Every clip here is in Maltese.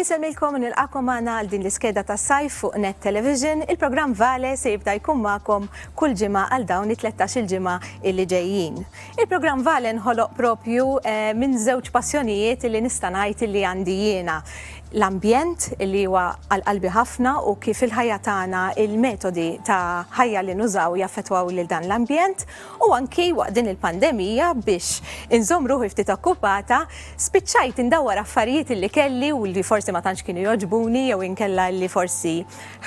Insemmilkom nilqakom għana għal din l-iskeda ta' sajf fuq Net Television. Il-programm Vale se jibda jkun magħkom kull ġimgħa għal dawn it-13 il-ġimgħa illi ġejjin. Il-programm Vale nħoloq propju eh, minn żewġ passjonijiet illi nista' ngħid illi għandi jiena l-ambjent li huwa għal-qalbi ħafna u kif il-ħajja tagħna il-metodi ta' ħajja li nużaw jaffetwaw lil dan l-ambjent u anki waqt din il-pandemija biex inżomm ruħi ftit okkupata, spiċċajt indawwar affarijiet illi kelli u li forsi ma tantx kienu jogħġbuni jew inkella li forsi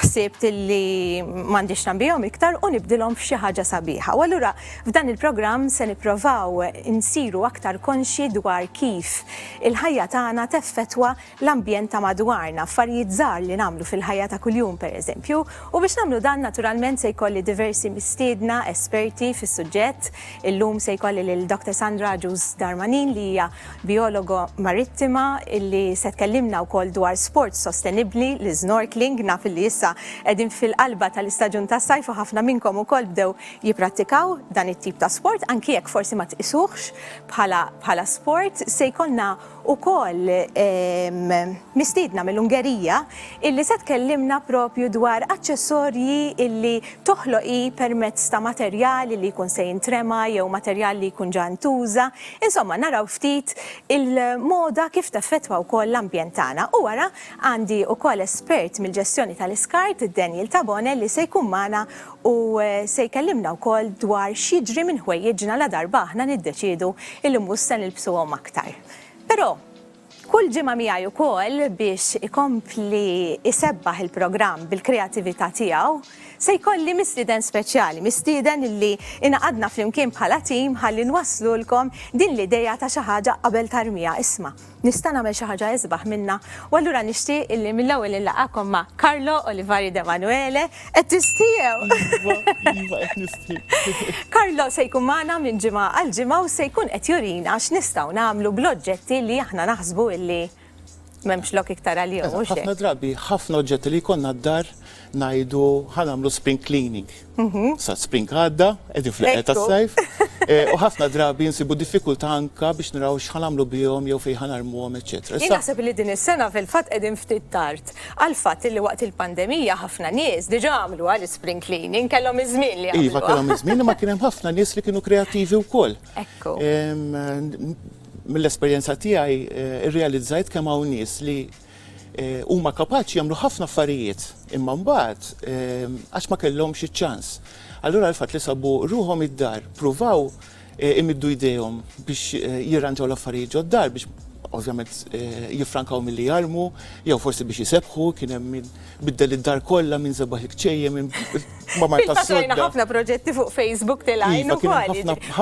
ħsibt illi m'għandix nagħbihom iktar u nibdilhom f'xi ħaġa sabiħa. U allura f'dan il-programm se nipprovaw insiru aktar konxji dwar kif il-ħajja tagħna teffettwa l-ambjent ta' madwarna, affarijiet żgħar li nagħmlu fil-ħajja ta' kuljum pereżempju, u biex nagħmlu dan naturalment se jkolli diversi mistiedna esperti fis-suġġett. Illum se jkolli lil Doctor Sandra Agius Darmanin li hija bijologa marittima li se tkellimna wkoll dwar sport sostenibbli, l-isnorkeling, naf illi issa qegħdin fil-qalba tal-istaġun tas-sajf u ħafna minnkom ukoll bdew jipprattikaw dan it-tip ta' sport anki jekk forsi ma tqisuhx bħala sport. Se jkollna ukoll mistiedna mill-Ungerija illi se tkellimna propju dwar aċċessorji illi toħloq hi permezz ta' materjal illi jkun se jintrema jew materjal li jkun ġa ntuża. Insomma, naraw ftit il-moda kif teffettwa wkoll l-ambjent tagħna. U wara għandi wkoll espert mill-ġestjoni tal-iskart, Daniel Tabone, li se jkun magħna u se jkellimna wkoll dwar x'jiġri minn ħwejjiġna ladarba aħna niddeċiedu illi mhux se nilbsuhom aktar. Però, kull ġimgħa miegħi wkoll biex ikompli jsebbaħ il-programm bil-kreatività tiegħu, se jkolli mistieden speċjali, mistieden illi ingħaqadna flimkien bħala tim ħalli nwasslulkom din l-idea ta' xi ħaġa qabel tarmiha isma'. Nista' nagħmel xi ħaġa isbaħ minnha u allura nixtieq illi mill-ewwel inlaqgħakom ma' Carlo Olivari D'Emanuele. Qed tistiew! Iva, iva qed nistiew. Carlo se jkun magħna minn ġimgħa għal ġimgħa u se jkun qed jurina x'nistgħu nagħmlu bl-oġġetti li aħna naħsbu illi m'hemmx lok iktar għalihom, mhux hekk? Ħafna drabi, ħafna oġġetti li jkollna d-dar ngħidu ħa nagħmlu spring cleaning. Sa spring għadda, qegħdin fl-eqgħa tas-sajf, u ħafna drabi nsibu diffikultà anke biex naraw x'ħa nagħmlu bihom jew fejn ħa narmuhom eċċetera. Jien naħseb li din is-sena fil-fatt qegħdin ftit tard għall-fatt illi waqt il-pandemija ħafna nies diġà għamluha l-ispring cleaning, kellhom iż-żmien li jagħmluha. Iva kellhom iż-żmien imma kien hemm ħafna nies li kienu kreattivi wkoll. Ekku. Mill-esperjenza tiegħi irrealizzajt kemm hawn nies li, Huma kapaċi jagħmlu ħafna affarijiet, imma mbagħad għax ma kellhomx iċ-ċans. Allura l-fatt li sabu ruħhom id-dar, pruvaw imiddu jdejhom biex jirranġaw l-affarijiet ġod-dar biex ovvjament jiffrankaw milli jarmu jew forsi biex isebħu, kien hemm min Biddel id-dar kollha minn sebaħ il-kċejjem minn mamar tas-sodda. Fakrajna ħafna proġetti fuq Facebook tilgħin ukoll.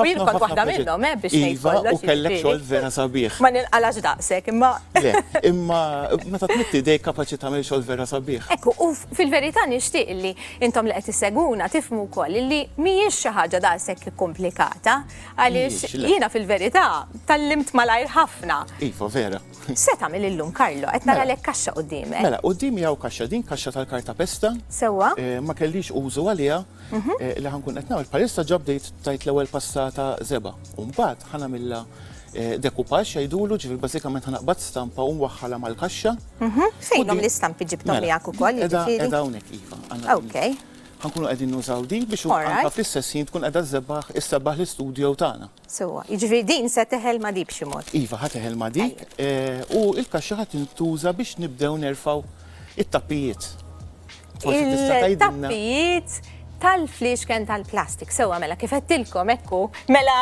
Jien kont waħda minnhom, eh, biex ngħid kollox. Iva, u kellek xogħol vera sabiħ. Ma ninqalax daqshekk, imma. Le, imma meta tmitti dejk kapaċi tagħmel xogħol vera sabiħ. Ekku, u fil-verità nixtieq li intom li qed isseguna tifhmu wkoll li mhijiex xi ħaġa daqshekk ikkomplikata għaliex jiena fil-verità tallimt malajr ħafna. Iva, vera. Se tagħmel illum Karlo? Qed nara lek kaxxa qudiemek. Mela, quddiemi hawn kaxxa, din kaxxa tal-karta pesta. Sewwa. Eh, ma kellix użu għaliha mhm. eh, li ħankun qed nagħmel. Bħalissa ġabdejt tajt l-ewwel passata żeba. U mbagħad ħanamilha eh, dekupax jgħidulu ġifier bażikament ħanaqbad stampa u nwaħħalha mal-kaxxa. Mhm. Fejnhom l-istampi ġibtom mela, miegħek ukoll. Eda hawnhekk iva. Okej. Ħankunu qegħdin nużaw din biex anka fl-istess jien tkun qiegħda żebbaħ issebaħ l-istudju tagħna. Sewwa, jiġifieri din se teħel ma' di b'xi mod? Iva, ħa teħel ma' di u l-kaxxa ħa tintuża biex nibdew nerfgħu t-tappijiet. It-tappijiet tal-fliexken tal-plastik. Sewwa mela, kif għedtilkom hekk hu, mela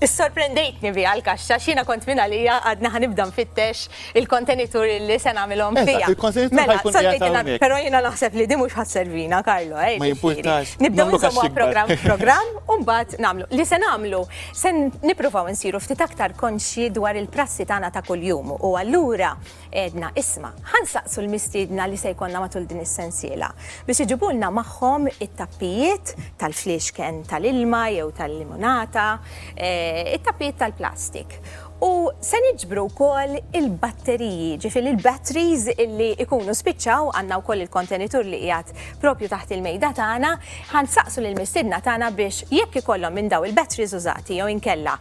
issorprendejtni biha l-kaxxa x'jiena kont minn għalija għadni ħa nibda nfittex Il-kontenitur li se nagħmilhom fiha. Eżatt, il-kontenitur ħa jkun qiegħed hawnhekk. Però jiena naħseb li din mhux ħa sservina, Carlo, eh. Ma jimpurtax. Nibdew nagħmlu programm f'programm u mbagħad nagħmlu. Li se nagħmlu, se nippruvaw insiru ftit aktar konxji dwar il-prassi tagħna ta' kuljum u allura għedna isma', ħa nsaqsu l-mistiedna li se jkollna matul din is-sensiela biex iġibulna magħhom it-tappijiet tal-fliexken tal-ilma jew tal-limonata, eh, it-tappijiet tal-plastik. U se niġbru wkoll il-batteriji, jiġifieri l-batteries illi jkunu spiċċaw, għandna wkoll il-kontenitur li qiegħed proprju taħt il-mejda tagħna, ħa nsaqsu lill-mistiedna tagħna biex jekk ikollhom minn dawn il-batteries użati jew inkella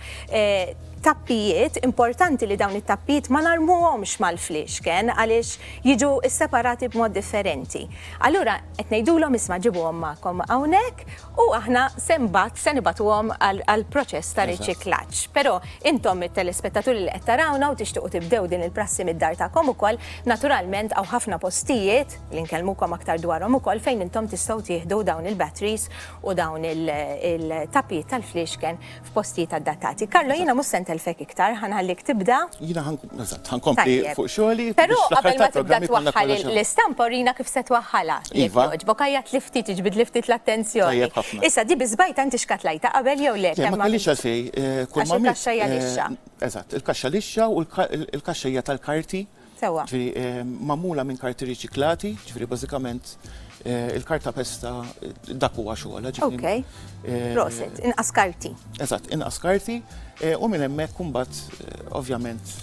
tappijiet, importanti li dawn it-tappijiet ma narmuhomx mal-fliexken għaliex jiġu sseparati b'mod differenti. Allura qed ngħidulhom isma' ġibuhom magħkom hawnhekk u aħna se mbagħad se nibagħtuhom għall-proċess ta' riċiklaġġ. Però intom it-telespettaturi li qed tarawna u tixtiequ tibdew din il-prassi mid-dar tagħkom ukoll, naturalment hawn ħafna postijiet, li nkellmukom aktar dwarhom ukoll, fejn intom tistgħu tieħdu dawn il-batteries u dawn il-tappijiet tal-fliexken f'postijiet adattati. Carlo, jiena mhux se ntellfek iktar, ħa nħallik tibda. Jiena ħa, eżatt, ħa nkompli fuq xogħli. Però qabel ma tibda twaħħal l-istampa urina kif se twaħħalha. Jekk jogħġbok, għajjat li ftit, iġbid li ftit l-attenzjoni. Issa, di biżbajta inti xkatlajta qabel jew le? Le, ma kellix għalfejn. Kull ma. Il-kaxxa hija lixxa. Eżatt, il-kaxxa lixxa u l-kaxxa hija tal-karti sewwa. Ġifieri magħmula minn karti riċiklati, ġifieri bażikament il-karta pesta dak huwa xogħolha. Okej. Proset, inqas karti. Eżatt, inqas karti u minn hemmhekk imbagħad ovvjament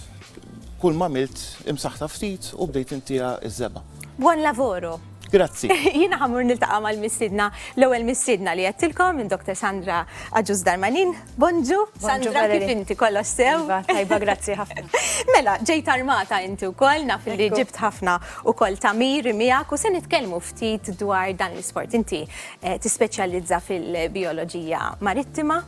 kull ma milt imsaħħtha ftit u bdejt intiha ż-żebgħa. Buon lavoro! Grazzi. Jiena ħamur niltaqa' mal-mistidna, l-ewwel mistidna li għedtilkom minn Dr. Sandra Aġus Darmanin. Bonġu, Sandra kif inti kollox sew. Iva, tajba, grazzi ħafna. Mela, ġejt armata inti wkoll naf li ġibt ħafna ukoll tamir miegħek u se nitkellmu ftit dwar dan l-isport. Inti eh, tispeċjalizza fil-bioloġija marittima.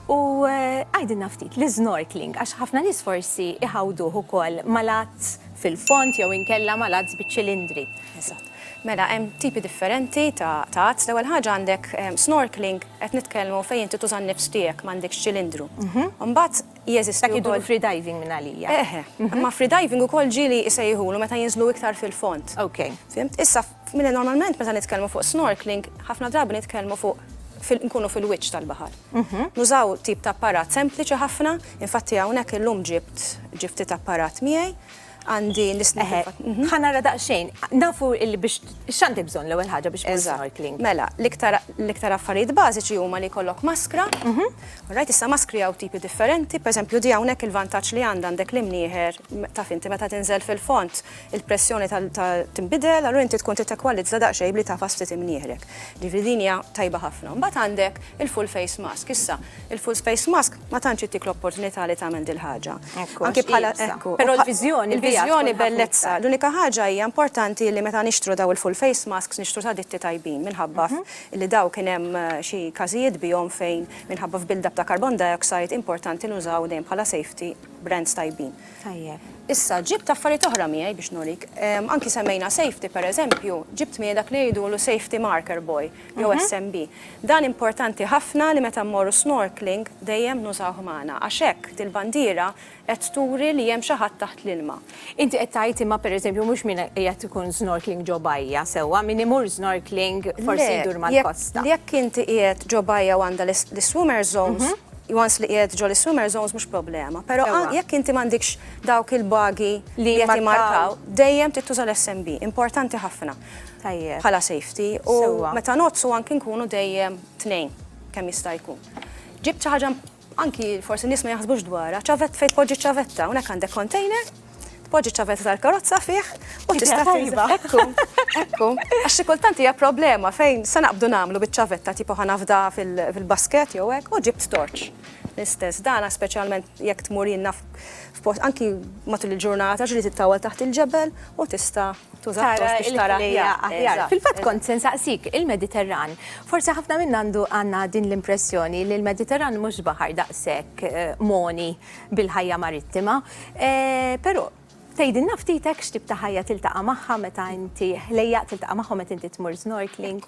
U eh, għajdin naftit, l-snorkeling, għax ħafna nis forsi iħawduħu kol malat fil-fond jew inkella ma' l-għadz biċ-ċilindri. Eżatt. Mela hemm tipi differenti ta' għadz. L-ewwel ħaġa għandek snorkeling, qed nitkellmu fejn inti tuża n-nifs tiegħek m'għandekx ċilindru. Imbagħad jeżisti wkoll. Dak iduru free diving mingħalija. Eħe. Imma free diving ukoll ġieli jsejħulu meta jinżlu iktar fil-fond. Okej. Fhimt? Issa Mela normalment meta nitkellmu fuq snorkeling, ħafna drabi nitkellmu fuq nkunu fil-wiċċ tal-baħar. Nużaw tip ta' apparat sempliċi ħafna, infatti hawnhekk illum ġibt ġie ftit apparat miegħi, għandi l-isnorkeling. Ħa nara daqsxejn, nafu li biex x'għandi bżonn l-ewwel ħaġa biex nagħmel snorkeling? Mela, l-iktar affarijiet bażiċi huma li jkollok maskra, rajt issa maskri hawn tipi differenti, pereżempju di hawnhekk il-vantaġġ li għandha għandek l-imnieħer, taf inti meta tinżel fil-fond, il-pressjoni tinbidel, allura inti tkun trid tekwalizza daqsxejn b'li tagħfas ftit imnieħrek. Jiġifieri din hija tajba ħafna. Mbagħad għandek il-full face mask. Issa, il-full face mask ma tantx ittik l-opportunità li tagħmel dil-ħaġa. Ekku, għax hi ibsa. Però l-viżjoni biha tkun ħafna iktar. Il-viżjoni bellezza. L-unika ħaġa hija importanti li meta nixtru dawn il-full face masks nixtru ta' ditti tajbin minħabba li dawn kien hemm xi każijiet bihom fejn minħabba f'build-up ta' carbon dioxide importanti nużaw dejjem bħala safety brands tajbin. Tajjeb. Issa, ġibt affarijiet oħra miegħi biex nurik. Anki semmejna safety, pereżempju, ġibt miegħi dak li ngħidulu safety marker buoy, jew SMB. Dan importanti ħafna li meta mmorru snorkeling dejjem nużawh magħna, għax hekk dil-bandiera qed turi li hemm xi ħadd taħt l-ilma. Inti qed tgħid imma pereżempju mhux min qiegħed ikun snorkeling ġo bajja sewwa, min imur snorkeling forsi jdur mal-kosta. Le, jekk inti qiegħed ġo bajja u għandha l-swimmer zones, once li qiegħed ġo l-swimmer zones mhux problema. Però jekk inti m'għandikx dawk il-bagi li qed jimmarkaw, dejjem trid tuża l-SMB, importanti ħafna. Tajjeb. Bħala safety u meta nogħdsu anki nkunu dejjem tnejn kemm jista' jkun. Ġibt xi ħaġa anki forsi nies ma jaħsbux dwarha, ċavett fejn tpoġġi ċavetta, hawnhekk għandek container tpoġġi ċavetta tal-karozza fih u tista' tajba. Ekku, ekku. Għax xi kultant hija problema fejn se naqbdu nagħmlu biċ-ċavetta tipo ħanafda fil-basket jew hekk u ġibt torċ. L-istess dana speċjalment jekk tmur jinna f'post anki matul il-ġurnata ġri tittawal taħt il-ġebel u tista' tuża biex tara aħjar. Fil-fatt kont se nsaqsik il-Mediterran. Forsi ħafna minn għandu għandna din l-impressjoni li l-Mediterran mhux baħar daqshekk eh, moni. bil-ħajja marittima. Però, tgħidilna ftit hekk x'tip ta' ħajja tiltaqa' magħha meta inti, ħlejjaq tiltaqa' magħhom meta inti tmur snorkeling?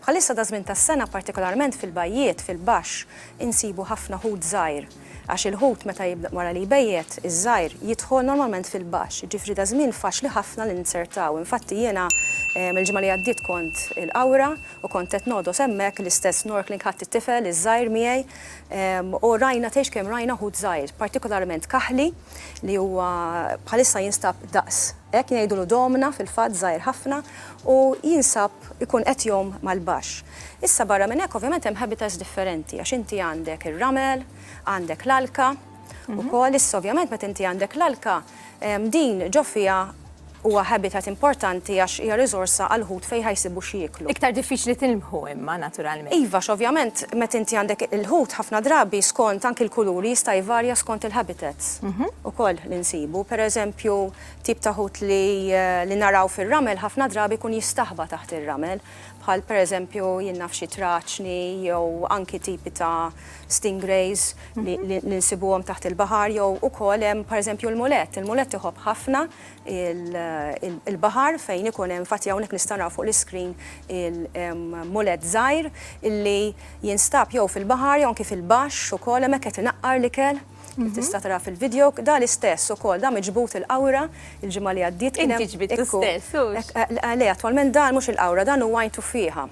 Bħalissa daż-żmien tas-sena, partikolarment fil-bajjiet, fil-baxx, insibu ħafna ħut żgħir. Għax il-ħut meta jibda, wara li jbejjet, iż-żgħir, jidħol normalment fil-baxx, jiġifieri daż-żmien faċli ħafna li ninzertaw. Infatti jiena l-ġimgħa li għaddiet kont il-Qawra u kont qed nogħdos hemmhekk l-istess snorkeling ħadt it-tifel iż-żgħir miegħi U rajna tgħix kemm rajna ħut żgħir, partikolarment kaħli li huwa bħalissa jinstab daqs hekk ngħidulu domna fil-fatt żgħir ħafna u jinsab ikun qed jgħum mal-baxx. Issa barra minn hekk ovvjament hemm habitats differenti għax inti għandek ir-ramel, għandek l-alka, Mhm. Ukoll issa ovvjament meta inti għandek l-alka, din ġo fiha huwa habitat importanti għax hija riżorsa għal ħut fejn ħajsibu xi jiklu. Iktar diffiċli tilmħu imma naturalment. Iva, ovvjament meta inti għandek il-ħut ħafna drabi skont anki l-kuluri jista' jvarja skont il-habitats. Mhm. Ukoll li nsibu, pereżempju, tip ta' ħut li eh, naraw fir-ramel ħafna drabi kun jistaħba taħt ir-ramel. bħal pereżempju jien naf xi traċni jew anki tipi ta' stingrays li nsibuhom taħt il-baħar jew ukoll hemm pereżempju l-mulett. Il-mulett iħobb ħafna il-baħar fejn ikun hemm infatti hawnhekk nista' nara fuq l-iscreen il-mulett żgħir illi jinstab jew fil-baħar jew anki fil-baxx ukoll hemmhekk qed inaqqar l-ikel. Kif tista' tara fil-video, dan l-istess ukoll, dan miġbud il-qawra l-ġimgħa li għaddiet. Inti ġbidtu stess, hux? Le, attwalment dan mhux il-qawra, dan huwa Għajn Tuffieħa.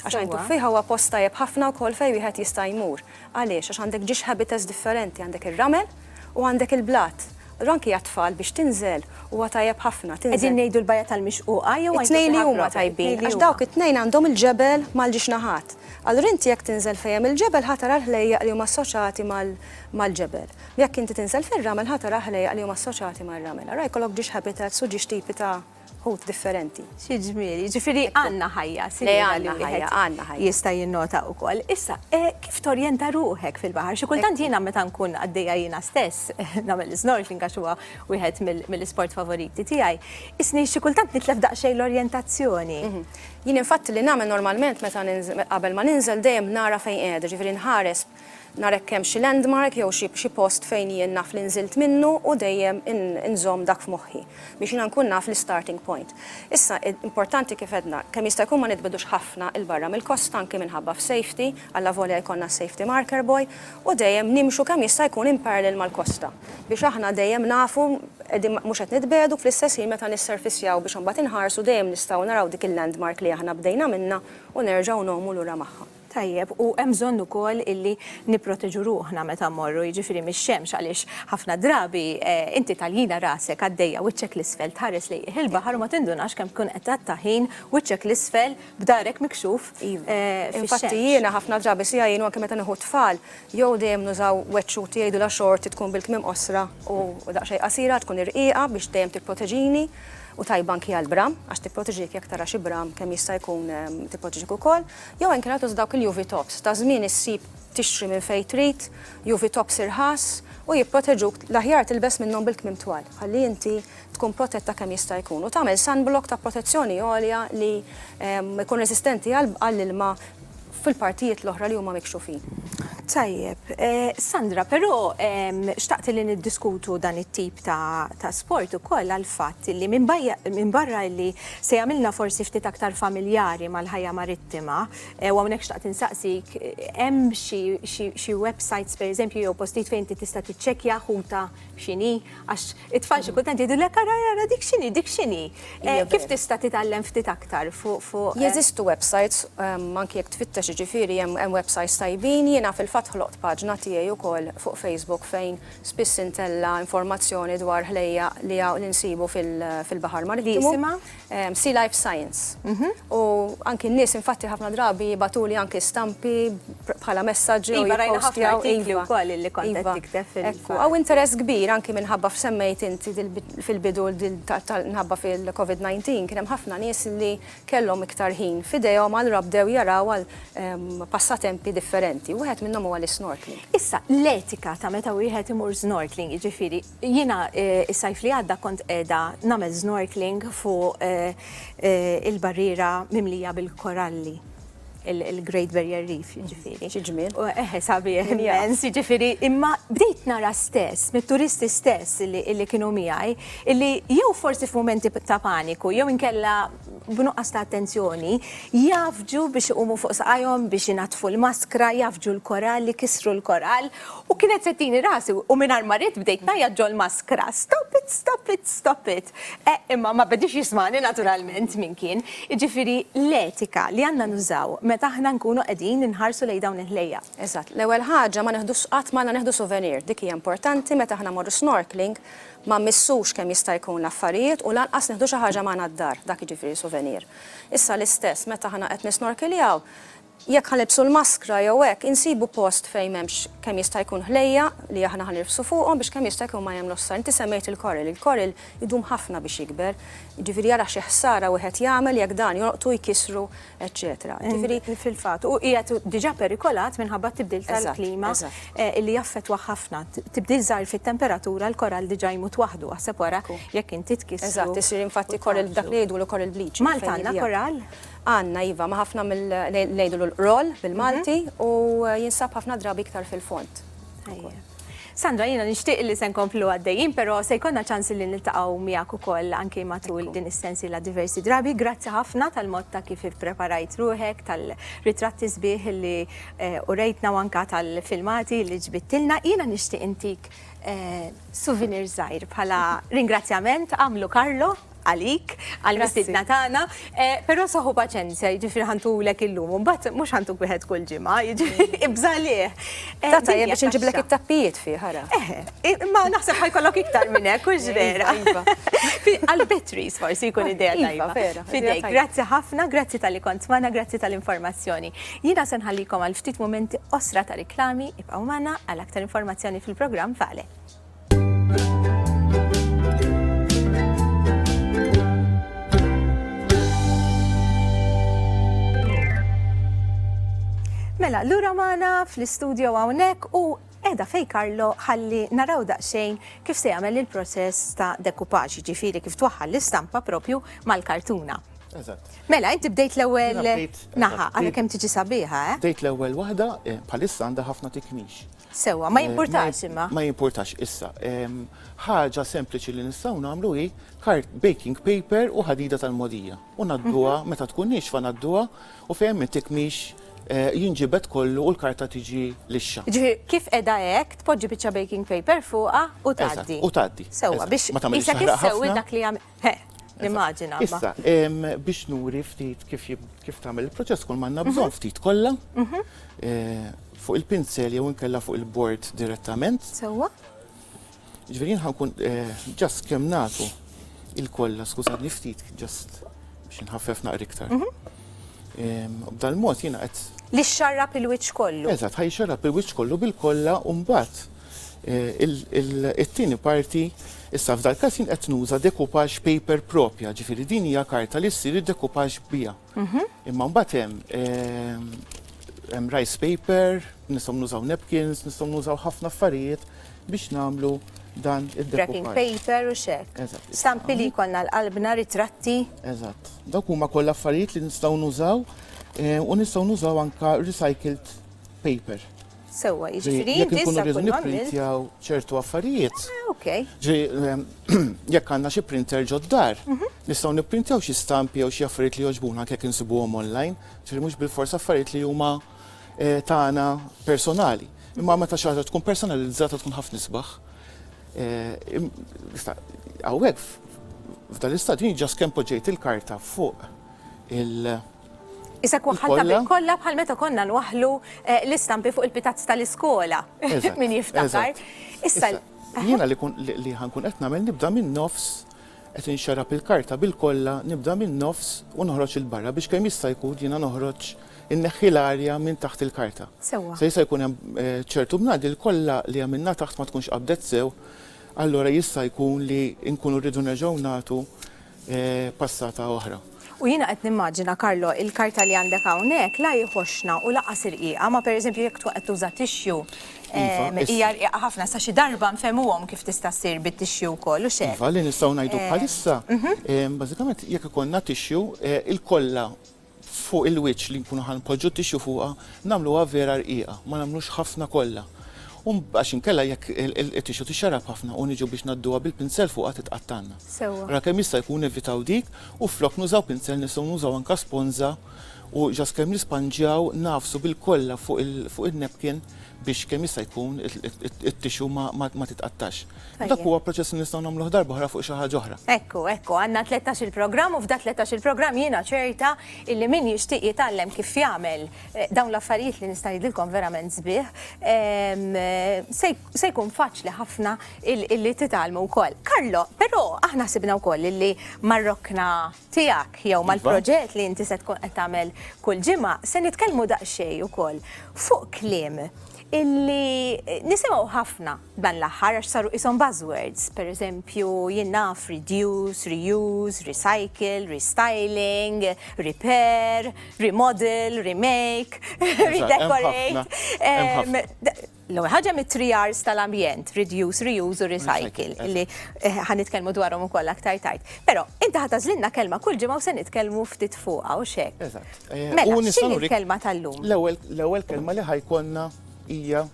Għax Għajn Tuffieħa huwa post tajjeb ħafna wkoll fejn wieħed jista' jmur. Għaliex? Għax għandek ġiex habitats differenti, għandek ir-ramel u għandek il-blat. Allura anki għat-tfal biex tinżel huwa tajjeb ħafna. Qegħdin ngħidu l-Bajja tal-Mixquqa jew Għajn Tuffieħa proprja? It-tnejn li huma tajbin, għax dawk it-tnejn għandhom il-ġebel mal-ġiex naħat. Allura inti jekk tinżel fejn hemm il-ġebel ħa tara l-ħlejjaq li huma assoċjati mal-ġebel. Jekk inti tinżel fir-ramel ħa tara l-ħlejjaq li huma assoċjati mar-ramel. Ara jkollok ġiex habitats u ġiex tipi ta' ħut differenti. Xi ġmiel, jiġifieri għandna ħajja simili li wieħed jista' jinnota wkoll. Issa, kif torjenta ruħek fil-baħar? Xi kultant jiena meta nkun għaddejja jiena stess nagħmel l-isnorkeling għax huwa wieħed mill-isport favoriti tiegħi, isni xi kultant nitlef daqsxejn l-orjentazzjoni. Jien infatti li nagħmel normalment meta qabel ma ninżel dejjem nara fejn qiegħda, jiġifieri nħares nara jekk hemm xi landmark jew xi xi post fejn jien naf li nżilt minnu u dejjem inżomm dak f'moħħi biex jiena nkun naf l-istarting point. Issa importanti kif għedna kemm jista' jkun ma nitbgħidux ħafna 'l barra mill-kosta anki minħabba f'safety, allavolja jkollna s-safety marker buoy, u dejjem nimxu kemm jista' jkun in parallel mal-kosta biex aħna dejjem nafu qegħdin mhux qed nitbiegħdu fl-istess ħin meta nisserfissjaw biex imbagħad inħarsu dejjem nistgħu naraw dik il-landmark li aħna bdejna minnha u nerġgħu ngħumu lura magħha. Tajjeb, u hemm bżonn ukoll illi nipproteġu ruħna meta mmorru, jiġifieri mix-xemx għaliex ħafna drabi inti tagħlina rasek għaddejja wiċċek 'l isfel tħares lejjih il-baħar u ma tindunax kemm tkun qed tgħatta ħin wiċċek 'l isfel, b'darek mikxuf fix-xemx. Infatti jiena ħafna drabi se jgħinu anke meta nieħu t-tfal, jew dejjem nużaw wet xut li jgħidulha xorti tkun bil-kmiem qosra u daqsxejn qasira, tkun irqiqa biex dejjem tipproteġini u tajba anke għall-bram għax tipproteġik jekk tara xi bram kemm jista' jkun tipproteġik ukoll, jew inkella tuża dawk il-UV tops, ta' żmien issib tixtri minn fejn trid, UV tops irħas u jipproteġuk, l-aħjar tilbes minnhom bil-kmiem twal, ħalli inti tkun protetta kemm jista' jkun u tagħmel sunblock ta' protezzjoni għolja li jkun reżistenti għall-ilma fil-partijiet l-oħra li huma mikxufin. Tajjeb. Sandra, però xtaqt li niddiskutu dan it-tip ta' sport ukoll għall-fatt li minbarra li se jagħmilna forsi ftit aktar familjari mal-ħajja marittima, u hawnhekk xtaqt insaqsik, hemm xi websajts pereżempju jew postijiet fejn inti tista' tiċċekkja ħuta x'inhi? Għax it-tfal xi kultant jgħidulek ara ara dik x'inhi, dik x'inhi. Eh, kif tista' titgħallem ftit aktar fuq fuq. Eh? Jeżistu websites, ehm, anki jekk tfittex ġifieri hemm websites tajbin, jiena fil-fatt ħloqt paġna tiegħi wkoll fuq Facebook fejn spiss intella informazzjoni dwar ħlejja li nsibu fil-Baħar Marittimu. ehm, Sea Life Science. Mhm. U anki n-nies infatti ħafna drabi batuli anki stampi bħala messaġġi u jipostjaw. Iva, iva. u koll li kontet iva. tikteb fil-fajl. Għaw interess kbir anki minħabba f'semmejt inti fil-bidu nħabba fil-COVID-19 kienem ħafna nies li kellhom iktar ħin fidejhom għal rabdew jaraw għal ehm, passatempi differenti. Wieħed minnhom huwa l-snorkeling. Issa, l-etika ta' meta wieħed imur snorkeling, jiġifieri Jiena s-sajf li għadda kont qiegħda nagħmel snorkeling fuq il-barriera mimlija bil-koralli, il-Great Barrier Reef jiġifieri. Xi ġmiel. Eħe sabiħ immens, jiġifieri imma bdejt nara stess mit-turisti stess li kienu miegħi illi jew forsi f'mumenti ta' paniku jew inkella b'nuqqas ta' attenzjoni jgħaffġu biex iqumu fuq saqajhom biex inaddfu l-maskra, jgħaffġu l-korall, ikissru l-korall. U kienet se tini rasi u mingħajr ma ridt bdejt ngħajjat ġol-maskra, Stop it, stop it, stop it! Eh, imma ma bediex jismagħni naturalment min kien. Jiġifieri l-etika li għandna nużaw meta aħna nkunu qegħdin inħarsu lejn dawn il-ħlejjaq. Eżatt, l-ewwel ħaġa ma neħdux qatt magħna neħdu souvenir, dik hija importanti meta aħna mmorru snorkeling ma mmissux kemm jista' jkun l-affarijiet u lanqas neħdu xi ħaġa magħna d-dar, dak jiġifieri souvenir. Issa l-istess meta aħna qed nisnorkiljaw, Jekk ħa nilbsu l-maskra jew hekk, insibu post fejn m'hemmx kemm jista' jkun ħlejja li aħna ħa nirfsu fuqhom biex kemm jista' jkun ma jagħmlux ħsara. Inti semmejt il-koril, il-koril idum ħafna biex jikber, jiġifieri ara xi ħsara wieħed jagħmel jekk dan jolqtu, jkissru, eċċetera. Jiġifieri. Fil-fatt, hu qiegħed diġà perikolat minħabba t-tibdil tal-klima li jaffettwah ħafna. Tibdil żgħir fit-temperatura l-korall diġà jmut waħdu, aħseb wara jekk inti tkissru. Eżatt, isir infatti koril b'dak li jgħidulu koril bleaching. Malta għandna korall? Għandna iva, ma' ħafna mill ngħidulu l-qroll bil-Malti u jinsab ħafna drabi iktar fil-fond. Sandra, jiena nixtieq li se nkomplu għaddejjin, però se jkollna ċans li niltaqgħu miegħek ukoll anki matul din is-sensiela diversi drabi. Grazzi ħafna tal-mod ta' kif ippreparajt ruħek, tal-ritratti sbieħ li eh, urejtna u anka tal-filmati li ġbittilna. Jiena nixtieq intik eh, souvenir żgħir bħala ringrazzjament għamlu Karlo għalik, għal-mistidna tagħna, eh, però saħu paċenzja, jiġifieri ħantulek illum, u mbagħad mhux ħantuk wieħed kull ġimgħa, jiġifieri mm. ibżalih. Eh, Tata jien biex inġiblek it-tappijiet fi ħara. Eh, ma naħseb ħajkollok iktar minn hekk, hux iva, vera. Iva. Għal-batteries forsi jkun idea iva, tajba. Fidejk, grazzi ħafna, grazzi tal-li kont magħna, grazzi tal-informazzjoni. Jiena se nħallikom għal ftit momenti osra ta' riklami, ibqgħu magħna għal aktar informazzjoni fil-programm Vale. Mela, l-ura maħna fl-studio għawnek u edha fej Karlo ħalli naraw daqxejn kif se jagħmel il-proċess ta' dekupaġ, ġifiri kif twaħħal l-istampa propju mal-kartuna. Mela, inti bdejt l-ewwel naħa, għalli kemm tiġi sabiħa, eh? Bdejt l-ewwel waħda, eh, palissa għandha ħafna tikmix. Sewa, ma jimpurtax imma. Ma jimpurtax issa. Ħaġa sempliċi li nistgħu nagħmlu hi kart baking paper u ħadida tal-modija. U nadduha mhm. meta tkun nixfa nadduha u fejn intik mhix eh, jinġibet kollu u l-karta tiġi lixxa. Ġifi, kif edha hekk tpoġġi biċċa baking paper fuqha u tgħaddi. U tgħaddi. Sewa biex ma tagħmilx dak li jagħmel. Immaġina. Issa, biex nuri ftit kif tagħmel il-proċess kull manna bżonn mhm. ftit kollha mhm. eh, fuq il-pinsel jew inkella fuq il-bord direttament. Sewwa. Ġifieri ħankun eh, ġast kemm nagħtu il-kollha, skużani ftit ġast biex inħaffef naqri iktar. Mhm. B'dal mod jiena qed li xarrab il-wiċċ kollu. Eżatt, ħaj xarrab il-wiċċ kollu bil-kollha u mbagħad It-tieni parti, issa f'dal-każ jien qed nuża decoupage paper proprja, ġifieri din hija karta li ssir id-decoupage biha. Mhm. Imma mbagħad hemm ehm, hemm rice paper, nistgħu nużaw napkins, nistgħu nużaw ħafna affarijiet biex nagħmlu dan id-decoupage. Wrapping paper u xek. Stampi li jkollna l-qalbna, ritratti. Eżatt. Dawk huma koll affarijiet li nistgħu nużaw eh, u nistgħu nużaw anka recycled paper. Sewwa, jiġifieri jekk inkunu rridu nipprintjaw ċertu affarijiet. Ah, ok. Ġi ehm, jekk għandna xi printer ġoddar, mhm. nistgħu nipprintjaw xi stampi jew xi affarijiet li jogħġbuna kek insibuhom online, ġifieri mhux bil-forsa affarijiet li huma eh, tagħna personali. Imma meta xi ħaġa tkun personalizzata tkun ħafna isbaħ. Għawek, eh, f'dan l-istadju ġas kemm poġġejt il-karta fuq il- Isek waħħalta bil kollha bħal meta konna nwaħħlu eh, l-istampi fuq il-pitazz tal-iskola. Min jiftakar. Issa jiena li kun li ħankun qed nagħmel nibda minn nofs qed inxarab il-karta bil-kollha nibda minn nofs u noħroġ il-barra biex kemm jista' jkun jiena noħroġ inneħħi l-arja minn taħt il-karta. Sewa. Se jista' jkun hemm eh, ċertu bnadi l-kollha li għamilna taħt ma tkunx qabdet sew, allora jista' jkun li nkunu rridu nerġgħu nagħtu passata oħra. U jiena qed nimmaġina, Carlo, il-karta li għandek hawnhekk la hi ħoxna u lanqas irqiqa, ma pereżempju jekk tkun qed tuża tixju, hija rqiqa ħafna, sa xi darba nfehmuhom kif tista' ssir bit-tixju wkoll, hux hekk? Iva, li nistgħu ngħidu bħalissa, bażikament jekk ikollna tixju, il-kollha, fuq il-wiċċ li nkunu ħa npoġġu t-tixju fuqha nagħmluha vera rqiqa, ma nagħmlux ħafna kollha u għax inkella jekk it-tixju tixxarab ħafna u niġu biex ngħadduha bil-pinsel fuqha titqattgħalna. Ra kemm jista' jkun nevitaw dik u flok nużaw pinsel nistgħu nużaw anke sponża u ġast kemm nispanġjaw nagħfsu bil-kollha fuq in-napkin biex kemm jista' jkun it-tixju ma titqattax. Dak huwa proċess li nistgħu nagħmluh darba oħra fuq xi ħaġa oħra. Ekku, ekku, għandna 13 il-programm u f'dak 13 il-programm jiena ċerta illi min jixtieq jitgħallem kif jagħmel eh, dawn l-affarijiet li nista' ngħidilkom verament sbieħ, ehm, se jkun faċli ħafna illi titgħallmu wkoll. Karlo, però aħna sibna wkoll illi marrokna tiegħek jew mal-proġett li inti se tkun qed tagħmel kull ġimgħa, se nitkellmu daqsxejn ukoll fuq kliem illi nisimgħu ħafna dan l-aħħar għax saru qishom buzzwords, pereżempju jien naf reduce, reuse, recycle, restyling, repair, remodel, remake, redecorate. L-ewwel ħaġa mit-three R's tal-ambjent, reduce, reuse u recycle, li ħa nitkellmu dwarhom ukoll aktar tard. Però inti ħa tażlilna kelma kull ġimgħa u se nitkellmu ftit fuqha u x'hekk. Eżatt. Eh, mela, x'inhi l-kelma tal-lum? L-ewwel kelma li ħajkollna hija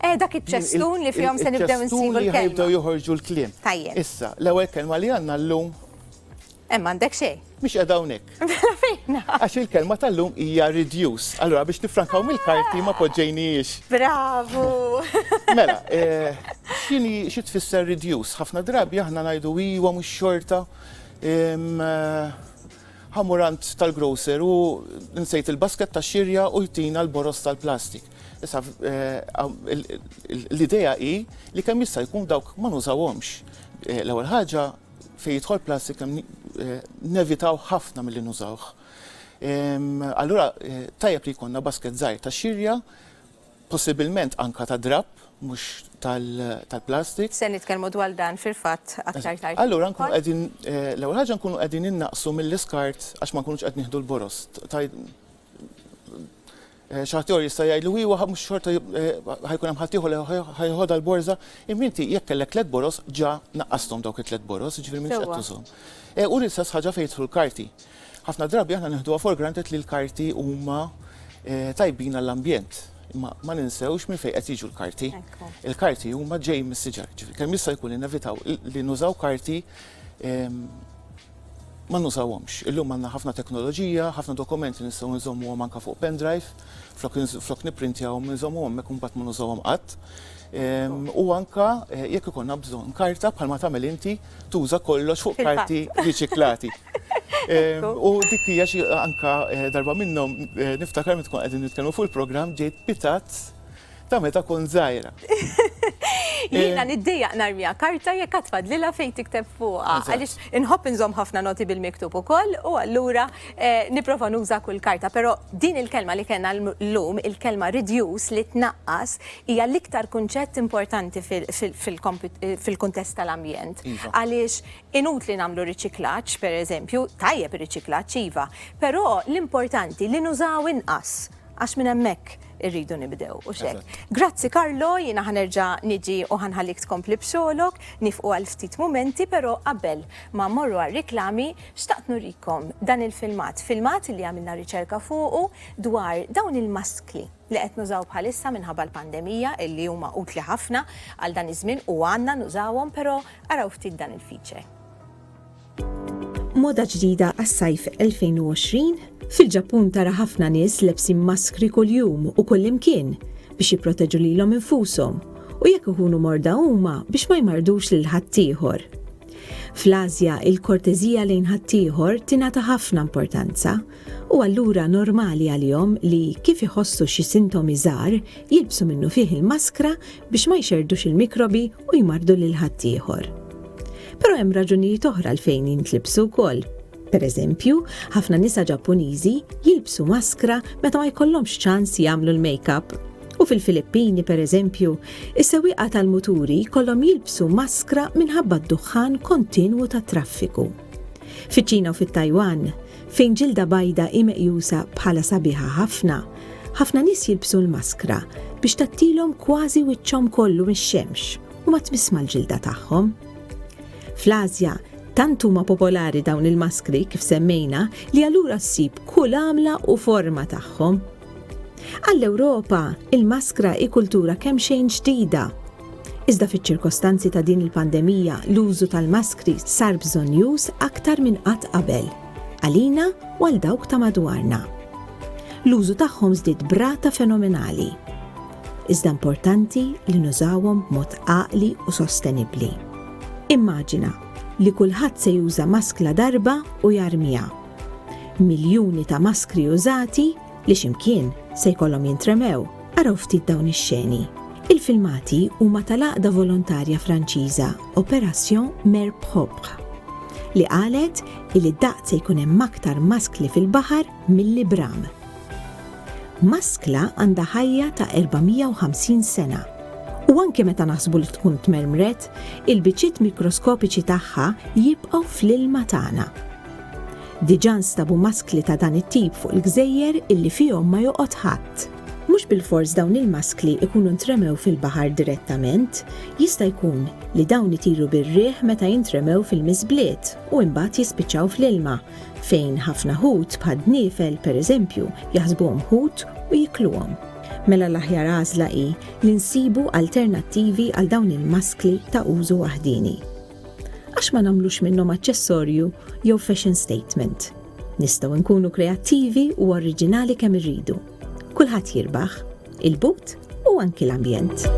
Eh, dak iċ-ċestun li fihom se nibdew nsibu l-kelma. Jibdew joħorġu l-kliem. Tajjeb. Issa, l-ewwel kelma li għandna llum Hemm m'għandek xejn. Mhix qiegħda hawnhekk. Mela fejna? Għax il-kelma tal-lum hija reduce. Allura biex nifrankaw mill-karti ma poġġejnijiex. Bravu! Mela, eh, x'inhi xi tfisser reduce? Ħafna drabi aħna ngħidu iwa mhux xorta. Em, eh, Ħamurant tal-grocer u nsejt il-basket ta' xirja u jtina l-boros tal-plastik. Issa, eh, għam- il- il- l-idea hi li kemm jista' jkun dawk ma nużawhomx. Eh, L-ewwel ħaġa Fejn jidħol plastik nevitaw ħafna milli nużawh. Allura tajjeb li jkollna basket żgħir ta' xirja, possibilment anka ta' drapp mhux tal-plastik. Se nitkellmu dwar dan fil-fatt aktar tard. Allura nkunu qegħdin l-ewwel ħaġa nkunu qegħdin innaqsu mill-iskart għax ma nkunux qed nieħdu l-boroż. Xi ħadd ieħor jista' jgħidlu, iwa, mhux xorta ħa jkun hemm ħadd ieħor li ħa jeħodha l-borża. Imma inti jekk kellek tliet boroż ġa naqqasthom dawk it-tliet boroż, jiġifieri m'iniex qed tużhom. U l-istess ħaġa fejn jidħlu l-karti. Ħafna drabi aħna neħduha for granted li l-karti huma tajbin għall-ambjent. Imma ma ninsewx minn fejn qed jiġu l-karti. Il-karti huma ġejjin mis-siġar. Ġifieri kemm jista' jkun innevitaw li nużaw karti ma nużawhomx. Illum għandna ħafna teknoloġija, ħafna dokumenti nistgħu nżommuhom anke fuq pendrive, flok flok nipprintjahom inżommuhom hemmhekk u mbagħad ma nużawhom qatt. Ehm, u anke eh, jekk ikollna bżonn karta bħalma tagħmel inti tuża kollox fuq karti riċiklati. Ehm, u dik hija xi anke eh, darba minnhom eh, niftakar meta tkun qegħdin nitkellmu fuq il-programm ġejt pitat Ta' meta kont żgħira. Jiena eh. niddejjaq narmija karta jekk qatt fadlilha fejn tikteb fuqha. Għaliex inħobb inżomm ħafna noti bil-miktub ukoll u allura eh, nipprova nuża kull karta, però din il-kelma li kellna llum, il-kelma reduce li tnaqqas hija l-iktar kunċett importanti fil-kuntest tal-ambjent. Iva. Għaliex inut li nagħmlu riċiklaġġ, pereżempju, tajjeb ir-riċiklaġġ iva, però l-importanti li nużaw inqas Għax minn hemmhekk irridu nibdew, u xek. Grazzi Karlo, jiena ħanerġa niġi u ħanħallik tkompli b'xogħolok, nifqu għal ftit mumenti, però qabel ma mmorru għar-riklami, xtaqt nurikom dan il-filmat, filmat li għamilna riċerka fuqu dwar dawn il-maskli li qed nużaw bħalissa minħabba l-pandemija illi huma utli ħafna għal dan iż-żmien u għandna nużawhom, però araw ftit dan il-feature. Moda ġdida għas-sajf 2020? Fil-Ġappun tara ħafna nies lebsin maskri kuljum u kullimkien biex jipproteġu lilhom infushom u jekk ikunu morda huma biex ma jmarrdux lil ħaddieħor. Fl-Ażja, il-korteżija lejn ħaddieħor tingħata ħafna importanza u allura normali għalihom li, kif iħossu xi sintomi żgħar, jilbsu minnufih il-maskra biex ma jxerrdux il-mikrobi u jmarrdu lil ħaddieħor. Però hemm raġunijiet oħra għalfejn jintlibsu wkoll. Per eżempju, ħafna nisa Ġappuniżi jilbsu maskra meta ma jkollhomx ċans jagħmlu l-makeup. U fil-Filippini, per eżempju, is-sewwieqa tal-muturi jkollhom jilbsu maskra minħabba d-duħħan kontinwu tat-traffiku. Fiċ-Ċina u fit-Tajwan, Fejn ġilda bajda hi meqjusa bħala sabiħa ħafna, ħafna nies jilbsu l-maskra biex tgħattilhom kważi wiċċhom kollu mix-xemx u ma tmiss mal-ġilda tagħhom. Fl-Asja, tant huma popolari dawn il-maskri kif semmejna li allura ssib kull għamla u forma tagħhom. Għall-Ewropa, il-maskra hi kultura kemm xejn ġdida Iżda fiċ-ċirkostanzi ta' din il-pandemija l-użu tal-maskri sar bżonnjuż aktar minn qatt qabel, għalina u għal dawk ta' madwarna. L-użu tagħhom żdied b'rata fenomenali. Iżda importanti li nużawhom b'mod għaqli u sostenibbli. Immaġina li kulħadd se juża maskla darba u jarmiha. Miljuni ta' maskri użati li x'imkien se jkollhom jintremew. Araw ftit dawn ix-xeni. Il-filmati huma tal-għaqda volontarja Franċiża Opération Mer Propre li qalet illi d-daqt se jkun hemm aktar maskli fil-baħar milli bram. Maskla għandha ħajja ta' 450 sena u anke meta naħsbu li tkun tmermret, il-biċċiet mikroskopiċi tagħha jibqgħu fl-ilma tagħna. Diġà nstabu maskli ta' dan it-tip fuq il-gżejjer illi fihom ma joqgħod ħadd. Mhux bilfors dawn il-maskli jkunu ntremew fil-baħar direttament, jista' jkun li dawn itiru bir-riħ meta jintremew fil-miżbliet u imbagħad jispiċċaw fl-ilma, fejn ħafna ħut bħad-dniefel, pereżempju, jaħsbuhom ħut u jikluhom. Mela l-aħjar għażla hi li nsibu alternattivi għal dawn il-maskli ta' użu waħdieni. Għax ma nagħmlux minnhom aċċessorju jew fashion statement? Nistgħu nkunu kreattivi u oriġinali kemm irridu. Kulħadd jirbaħ, il-but u anki l-ambjent.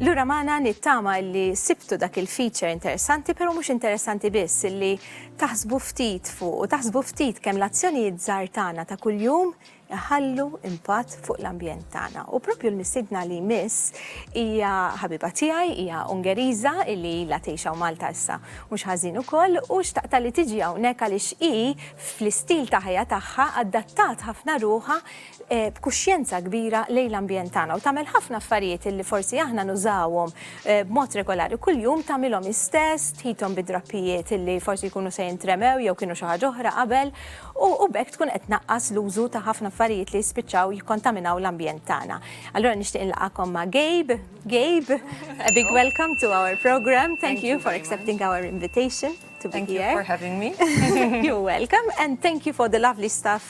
Lura maħna nittama li sibtu dak il-feature interessanti, pero mux interessanti biss li Taħsbu ftit fuq u taħsbu ftit kemm l-azzjonijiet żgħar tagħna ta' kuljum iħallu impatt fuq l-ambjent tagħna. U proprju l-mistiedna li jmiss hija ħabiba tiegħi, hija Ungeriża illi ilha tgħix hawn Malta issa mhux ħażin ukoll u xtaqtha li tiġi hawnhekk għaliex hi fl-istil ta' ħajja tagħha adattat ħafna ruħha b'kuxjenza kbira lejn l-ambjent tagħna u tagħmel ħafna affarijiet illi forsi aħna nużawhom b'mod regolari kuljum tagħmilhom hi stess, tħitom bi drappijiet illi forsi jkunu se jintremew jew kienu xi ħaġa oħra qabel u u b'hekk tkun qed tnaqqas l-użu ta' ħafna affarijiet li jispiċċaw jikkontaminaw l-ambjent tagħna. Allura nixtieq inlaqagħkom ma' Gabe. Gabe, a big welcome to our programme. Thank you for accepting our invitation to be here. Thank you for having me. You're welcome and thank you for the lovely staff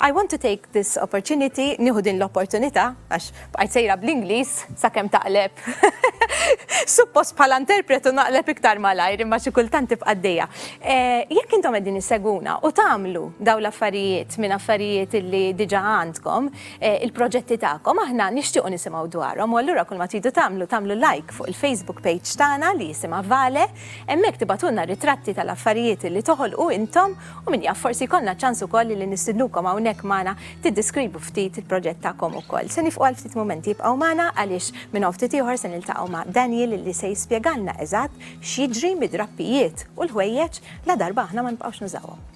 I want to take this opportunity, nieħu din l-opportunità, għax bqajt sejra bl-Ingliż sakemm taqleb. Suppost bħala interpretu naqleb iktar malajr imma xi kultant tibqa' għaddejja. Eh, jekk intom qegħdin issegwuna u tagħmlu daw l-affarijiet minn affarijiet li diġà għandkom, eh, il-proġetti tagħkom aħna nixtiequ nisimgħu dwarhom u allura kull ma tridu tagħmlu tagħmlu like fuq il-Facebook page tagħna li jisimha Vale, hemmhekk tibatulna ritratti tal-affarijiet li toħolqu intom U min jaf, forsi jkollna ċ-ċans ukoll li nistidnukom hawnhekk magħna tiddiskrivu ftit il-proġett tagħkom ukoll. Se nifqu għal ftit mumenti, ibqgħu magħna għaliex minn hawn ftit ieħor se niltaqgħu ma' Daniel li se jispjegalna eżatt x'jiġri mid-drappijiet u l-ħwejjeġ ladarba aħna ma nibqgħux nużawhom.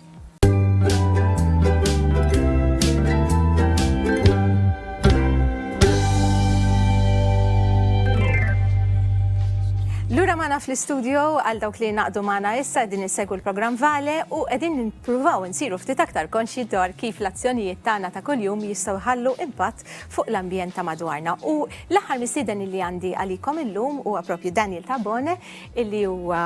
Lura mana fl-istudio għal dawk li naqdu mana issa din insegwu l-programm Vale u qegħdin nippruvaw insiru ftit aktar konxji dwar kif l-azzjonijiet tagħna ta' kuljum jistgħu jħallu impatt fuq l-ambjent ta' madwarna. U l-aħħar mistieden li għandi għalikom illum huwa propju Daniel Tabone illi huwa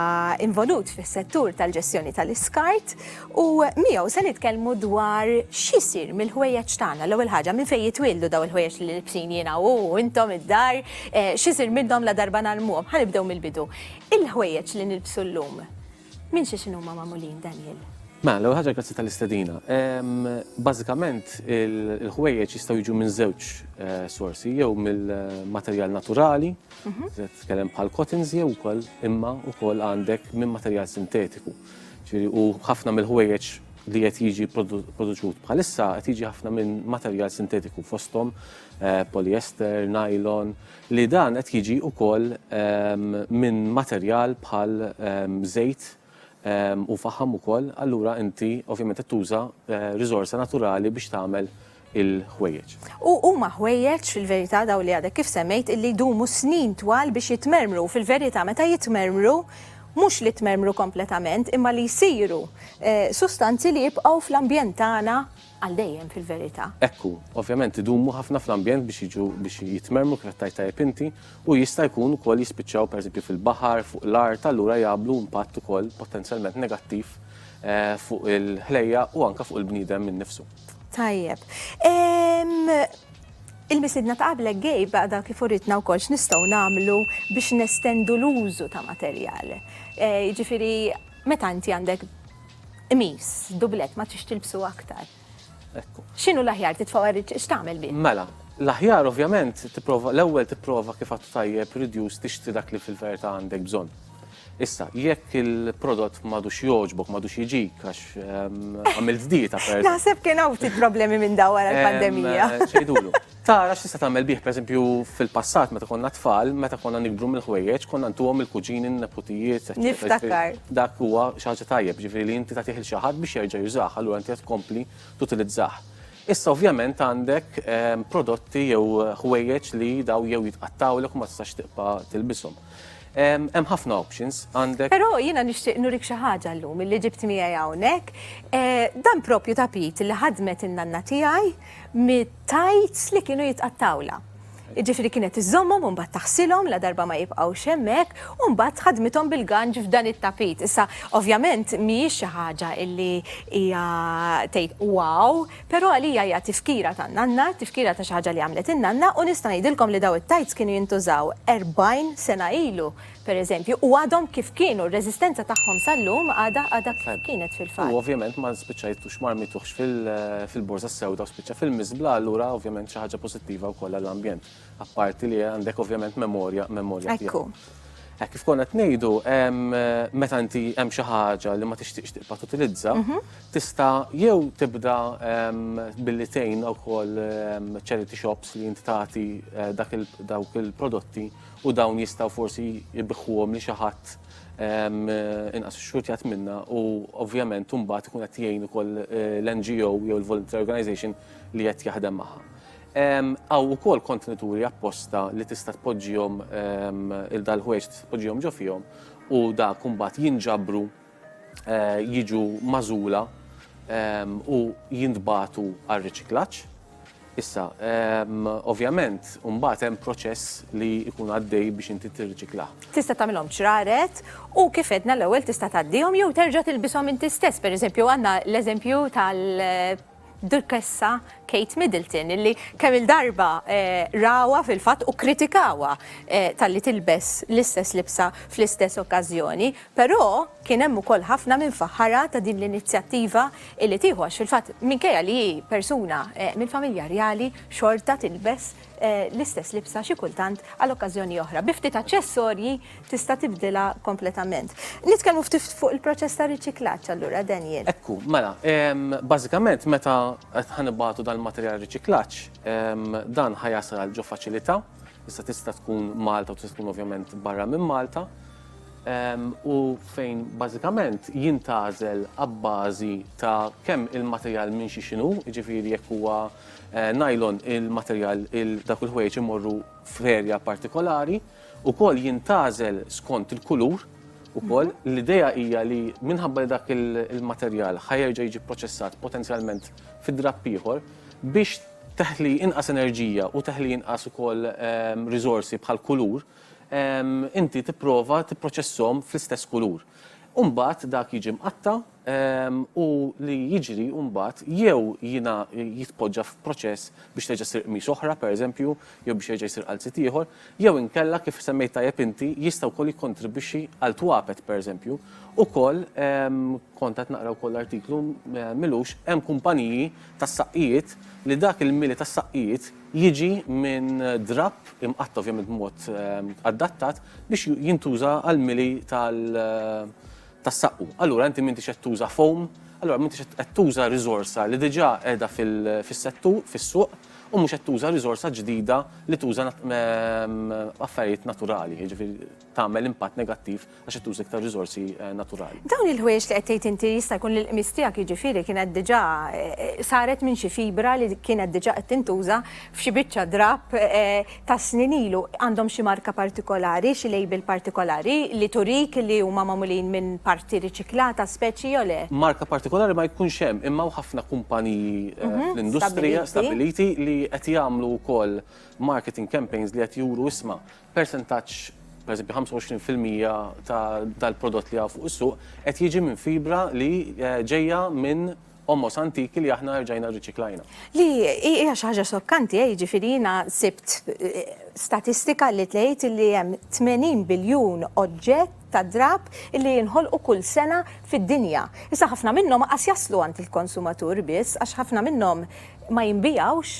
involut fis-settur tal-ġestjoni tal-iskart U miegħu se nitkellmu dwar x'isir mill-ħwejjeġ tagħna. L-ewwel ħaġa, minn fejn jitwieldu dawn il-ħwejjeġ li libsin jiena u intom id-dar, x'isir minnhom ladarba ngħallmuhom. Ħa nibdew mill-bidu. Il-ħwejjeġ li nilbsu llum, minn xiex inhuma magħmulin, Daniel? Mela, l-ewwel ħaġa grazzi tal-istedina. Bażikament il-ħwejjeġ jistgħu jiġu minn żewġ sorsi, jew mill-materjal naturali, se nitkellem bħal cottons jew ukoll imma ukoll għandek minn materjal sintetiku. Ġifieri u ħafna mill-ħwejjeġ li qed jiġi produċut bħalissa qed jiġi ħafna minn materjal sintetiku fosthom eh, polyester, nylon, li dan qed jiġi wkoll ehm, minn materjal bħal ehm, żejt ehm, u faħam ukoll, allura inti ovvjament qed tuża eh, riżorsa naturali biex tagħmel il-ħwejjeġ. U huma ħwejjeġ, fil-verità, dawn li għadek kif semmejt, illi jdumu snin twal biex jitmermru u fil-verità meta jitmermru, mhux li jtmermru kompletament, imma li jsiru sustanzi li jibqgħu fl-ambjent tagħna għal dejjem fil-verità. Hekk hu. Ovvjament idumu ħafna fl-ambjent biex jiġu biex jitmermru kif qed tgħid tajjeb inti u jista' jkun ukoll jispiċċaw pereżempju fil-baħar, fuq l-art, allura jagħmlu impatt ukoll potenzjalment negattiv fuq il-ħlejjaq u anke fuq il-bniedem innifsu. Tajjeb. Il-misidna ta' qablek gejb għadha kif uritna wkoll x'nistgħu nagħmlu biex nestendu l-użu ta' materjal. Eh, jiġifieri meta inti għandek qmis, dublet ma tix tilbsu aktar. Ekku. X'inhu l-aħjar titfgħu x'tagħmel bi? Mela, l-aħjar ovvjament tipprova l-ewwel tipprova kif għattu tajjeb reduce tixtri dak li fil-verità għandek bżonn. Issa, jekk il-prodott madux joġbok, madux jiġik, għax għamilt dieta per. Naħseb kien hawn ftit problemi minn daw wara l-pandemija. Eh, Xejdulu. Tara x'tista' tagħmel bih, pereżempju fil-passat meta konna tfal, meta konna nikbru mill-ħwejjeġ, konna ntuhom il-kuġini, n-neputijiet, Niftakar. Dak huwa xi ħaġa tajjeb, ġifieri li inti tagħtih il xi ħadd biex jerġa' jużah, allura inti qed tkompli tutilizzah. Issa ovvjament għandek ehm, prodotti jew ħwejjeġ li daw jew jitqattawlek u ma tistax tibqa' tilbishom. Hemm ħafna options għandek. Però jiena nixtieq nurik xi ħaġa llum illi ġibt miegħi hawnhekk. Eh, dan propju tapit li ħadmet in-nanna tiegħi mit-tajts li kienu jitqattawla. Ġifri kienet iżommhom u mbagħad taħsilhom la darba ma jibqgħux hemmhekk u mbagħad ħadmithom bil-ganġ f'dan it-tapit. Issa ovvjament mhijiex xi ħaġa illi hija tgħid wow, Però għalija hija tifkira tan-nanna, tifkira ta' xi ħaġa li għamlet in-nanna u nista' ngħidilkom li daw it-tights kienu jintużaw 40 sena ilu, pereżempju, u għadhom kif kienu, r-reżistenza tagħhom sal-lum għadha għadha kif kienet fil-fatt. U ovvjament ma spiċċajtux ma rmituhx fil-Borża s-Sewda u spiċċa fil-miżbla, allura ovvjament xi ħaġa pożittiva wkoll għall-ambjent. Apparti li għandek ovvjament memorja, memorja Ekku. Hekk kif konna tnejdu, meta inti hemm xi ħaġa li ma tixtieqx tibqa' tutilizza, mhm. tista' jew tibda billi tgħin wkoll charity shops li inti tagħti eh, dawk il-prodotti u dawn jistgħu forsi jibħuhom li xi ħadd inqas xurtjat minna u ovvjament imbagħad ikun qed jgħin ukoll eh, l-NGO jew il-volunteer organization li qed jaħdem magħha. Hawn ukoll kontenituri apposta li tista' tpoġġihom il-dal-ħwejġ tista' tpoġġihom ġo fihom u dak imbagħad jinġabru jiġu magħżula u jintbagħtu għar-riċiklaġġ. Issa, ovvjament, imbagħad hemm proċess li jkun għaddej biex inti tirriċiklah. Tista' tagħmilhom ċraret u kif għedna l-ewwel tista' tgħaddihom jew terġa' tilbishom inti stess. Pereżempju għandna l-eżempju tal- Dukessa Kate Middleton illi kemm il-darba rawha fil-fatt u kkritikawha talli tilbes l-istess libsa fl-istess okkażjoni, però kien hemm ukoll ħafna min faħħarha ta' din l-inizjattiva illi tieħu għax fil-fatt minkejja li hi persuna mill-familja rjali xorta tilbes l-istess libsa xi kultant għal okkażjoni oħra. Bi ftit aċċessorji tista' tibdilha kompletament. Nitkellmu ftit fuq il-proċess ta' riċiklaġġ allura Daniel. Ekku, mela, bażikament meta qed ħanibgħatu dal-materjal riċiklaġġ, dan ħa jasal għal ġo faċilità, issa tista' tkun Malta u tista' tkun ovvjament barra minn Malta, u fejn bażikament jintgħażel abbażi ta' kemm il-materjal minn xi x'inhu, jiġifieri jekk huwa Nylon, il-materjal, dawk il-ħwejjeġ imorru f'erja partikolari, ukoll jintgħażel skont il-kulur ukoll. L-idea hija li minħabba li dak il-materjal ħa jerġa' jiġi pproċessat potenzjalment fi drapp ieħor biex teħli inqas enerġija u teħli inqas ukoll riżorsi bħal kulur, inti tipprova tipproċesshom fl-istess kulur. U mbagħad dak jiġi mqatta' u li jiġri mbagħad jew jitpoġġa f'proċess biex terġa' ssir qmis oħra, pereżempju, jew biex jerġa' jsir għal sit ieħor, jew inkella, kif semmejt tajjeb inti, jista' wkoll jikkontribwixxi għal twapet, pereżempju. Ukoll, kont qed naqra wkoll artiklu m'ilux, hemm kumpaniji tas-saqqijiet li dak il-mili tas-saqqijiet jiġi minn drapp imqatta' ovvjament b'mod adattat biex jintuża għall-mili tas-saqqu. Allura inti m'intix qed tuża foam, allura m'intix qed tuża riżorsa li diġà qiegħda fis-settur, fis-suq, u mhux qed tuża riżorsa ġdida li tuża affarijiet naturali, jiġifieri tagħmel impatt negattiv għax qed tuża iktar riżorsi naturali. Dawn il-ħwejjeġ li qed tgħid inti jista' jkun li l-qmis tiegħek jiġifieri kienet diġà saret minn xi fibra li kienet diġà qed tintuża f'xi biċċa drapp, ta' snin ilu, għandhom xi marka partikolari, xi label partikolari, li turik li huma magħmulin minn parti riċiklata, speċi jew le? Marka partikolari ma jkunx hemm, imma hawn ħafna kumpaniji fl-industrija stabbiliti li qed jagħmlu wkoll marketing campaigns li qed juru isma' persentaġġ, pereżempju 25 fil-mija tal-prodott li hawn fuq is-suq qed jiġi minn fibra li ġejja minn ommos antiki li aħna rġajna rriċiklajna. Li hija xi ħaġa xokkanti, eh, jiġifieri jiena sibt eh, statistika li tgħid li hemm 80 biljun oġġett ta' drab li jinħolqu kull sena fid-dinja. Issa ħafna minnhom qas jaslu għand il-konsumatur biss għax ħafna minnhom ma jinbijawx.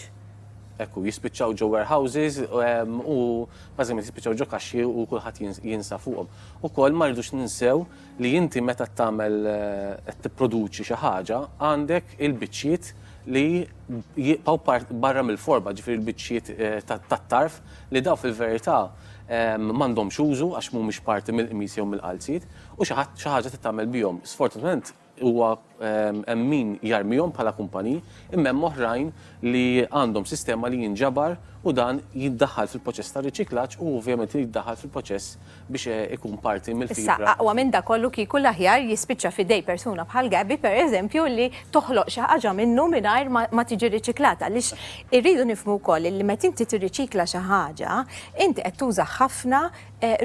Ekku, jispiċċaw ġo warehouses ehm, u bażikament jispiċċaw ġo kaxxi u kulħadd jinsa fuqhom. Ukoll ma rridux ninsew li inti meta tagħmel qed tipproduċi xi ħaġa għandek il-biċċiet li jibqgħu barra mill-forma, ġifieri l-biċċiet tat-tarf li dawn fil-verità m'għandhomx użu għax mhumiex parti mill-qmis jew mill-qalziet u xi ħadd xi ħaġa trid tagħmel bihom. Sfortunatament huwa Hemm min jarmihom bħala kumpaniji, imma hemm oħrajn li għandhom sistema li jinġabar u dan jiddaħħal fil-proċess ta' riċiklaġġ u ovvjament irid jiddaħħal fil-proċess biex ikun parti mill-fibra. Issa, aqwa minn dak kollu kieku l-aħjar jispiċċa f'idej persuna bħal Gabby, per eżempju, li toħloq xi ħaġa minnu mingħajr ma tiġi riċiklata. Għaliex irridu nifhmu wkoll li meta inti tirriċikla xi ħaġa, inti qed tuża ħafna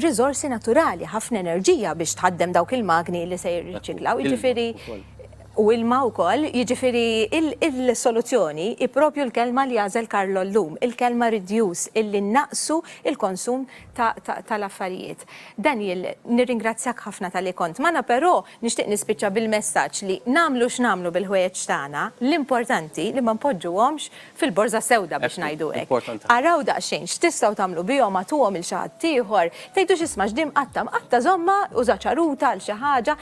riżorsi naturali, ħafna enerġija biex tħaddem dawk il-magni li se jirriċiklaw, jiġifieri u ilma wkoll, jiġifieri il-soluzzjoni hi proprju l-kelma li għażel Carlo llum, il-kelma reduce, illi nnaqqsu l-konsum tal-affarijiet. Daniel, nirringrazzjak ħafna talli kont magħna, però Nixtieq nispiċċa bil-messaġġ li nagħmlu x'nagħmlu bil-ħwejjeġ tagħna, l-importanti li ma npoġġuhomx fil-borża sewda biex ngħidu hekk. Araw daqsxejn x'tistgħu tagħmlu bihom, agħtuhom lil xi ħadd ieħor, tgħidux isma' x'di mqatta', mqatta' żommha, uża ċaruta għal xi ħaġa.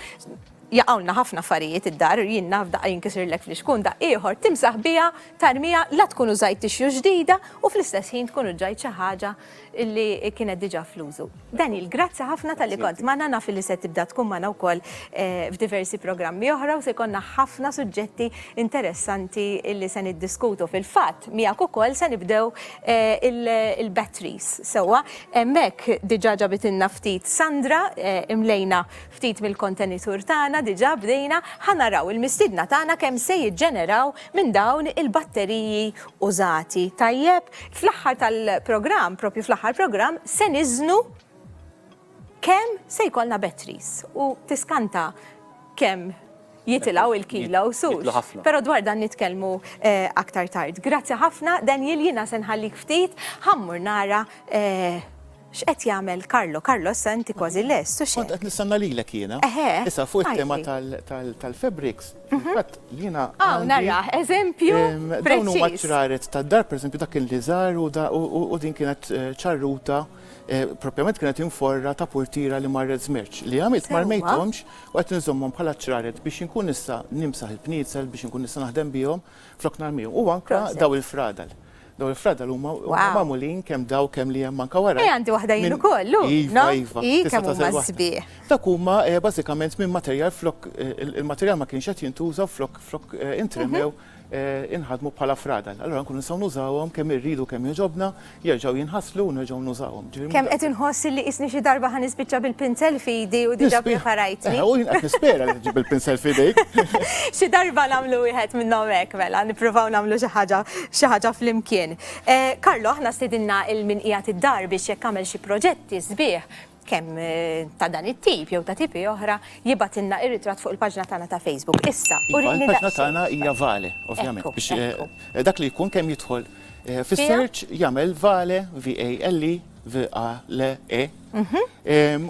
Jaqgħulna ħafna affarijiet id-dar, jien naf daqqa jinkisirlek fl-ixkun, daqq ieħor timsaħ biha, tarmiha, la tkun użajt tixju ġdida u fl-istess ħin tkun uġġajt xi ħaġa illi kienet diġa fl-użu. Daniel, grazzi ħafna tal-li kont maħna naf li se tibda tkun maħna u koll eh, f'diversi programmi oħra u se konna ħafna suġġetti interessanti illi se niddiskutu fil-fat miegħek ukoll se nibdew eh, il-batteries sewa hemmhekk diġa ġabitilna ftit Sandra eh, imlejna ftit mill-kontenitur tagħna diġa bdejna ħanaraw il-mistidna tagħna kemm se jiġġeneraw minn dawn il-batteriji użati tajjeb. Fl-aħħar tal-programm, propju fl-aħħar programm, se niżnu kemm se jkollna batteries u tiskanta kemm jitilaw il-kilo u sux. Pero dwar dan nitkellmu eh, aktar tard. Grazzi ħafna, Daniel, jina senħallik ftit, ħammur nara eh, X'qed jagħmel Carlo? Carlo issa inti kważi lest, u x'hekk? Kont qed nistenna lilek jiena. Eħe. Issa fuq it-tema tal-fabrics, fil-fatt jiena. Hawn narah, eżempju preċiż. Dawn huma ċraret tad-dar, pereżempju dak kien li żar u din kienet ċarruta, propjament kienet inforra ta' purtiera li marret żmerċ. Li għamilt ma rmejthomx u qed inżommhom bħala ċraret biex inkun nista' nimsaħ il-pniezel, biex inkun nista' naħdem bihom flok narmihom. U anke dawn il-fradal. Dawn il-fradal huma magħmulin kemm daw kemm li hemm anke wara. Eh għandi waħda jien ukoll, hu. Iva, iva. Hi kemm huma sbieħ. Dak huma eh, bażikament minn materjal flok eh, il-materjal ma kienx qed jintuża flok flok eh, intremew mhm. inħadmu bħala fradal. Allura nkunu nistgħu nużawhom kemm irridu kemm joġobna, jerġgħu jinħaslu u nerġgħu nużawhom. Kemm qed inħoss li qisni xi darba ħa nispiċċa bil-pinsel f'idi u diġà preparajtni. U jien qed nispera li tiġib il-pinsel f'idejk. Xi darba nagħmlu wieħed minnhom hekk mela, nippruvaw nagħmlu xi ħaġa xi ħaġa flimkien. Carlo, aħna stidinna 'l min qiegħed id-dar biex jekk għamel xi proġetti sbieħ, kemm ta' dan it-tip jew ta' tipi oħra, jibgħatilna ir-ritratt fuq il-paġna tagħna ta' Facebook. Issa, urini daqsxejn. Il-paġna tagħna hija Vale, ovvjament. Dak li jkun kemm jidħol. Eh, fis-search jagħmel vale, V-A-L-E, V-A-L-E, mhm.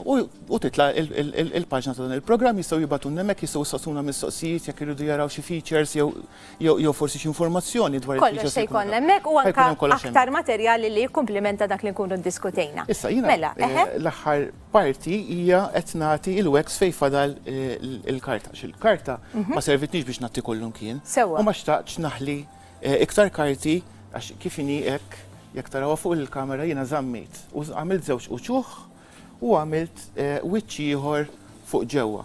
u titla il-paġna ta' dan il-programm jistgħu jibatu nemmek jistgħu saqsuna mistoqsijiet jekk iridu jaraw xi features jew forsi xi informazzjoni dwar il-features. Kollox se jkun hemmhekk u anke aktar materjali li jikkumplimenta dak li nkunu ddiskutejna. Issa jiena mela, eh, eh. l-aħħar parti hija qed nagħti il-wex fejn fadal il-karta. Xil-karta mhm. ma servitniex biex nagħti kollum kien. Sewa. U ma xtaqx naħli Iktar karti għax kif inhi hekk jekk tarawha fuq il-kamera jiena żammejt u għamilt żewġ uċuħ u għamilt wiċċ ieħor fuq ġewwa.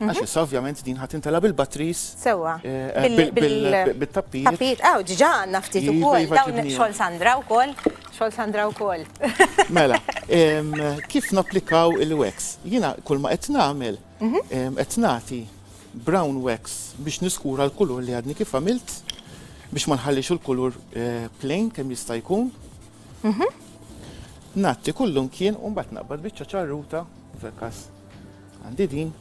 Għax issa ovvjament din ħadd intela bil-batteries. Sewwa. Bil-tappijiet. Tappijiet, aw, ġiġa għandna ftit ukoll. Dawn xogħol Sandra wkoll. Xogħol Sandra wkoll. Mela, kif napplikaw il-wax? Jiena kull ma qed nagħmel qed nagħti brown wax biex niskura l-kulur li għadni kif għamilt biex ma nħallix il-kulur eh, plain kemm jista' jkun. Mhm. Natti kullum kien u mbagħad naqbad biċċa ċarruta fil-każ għandi din.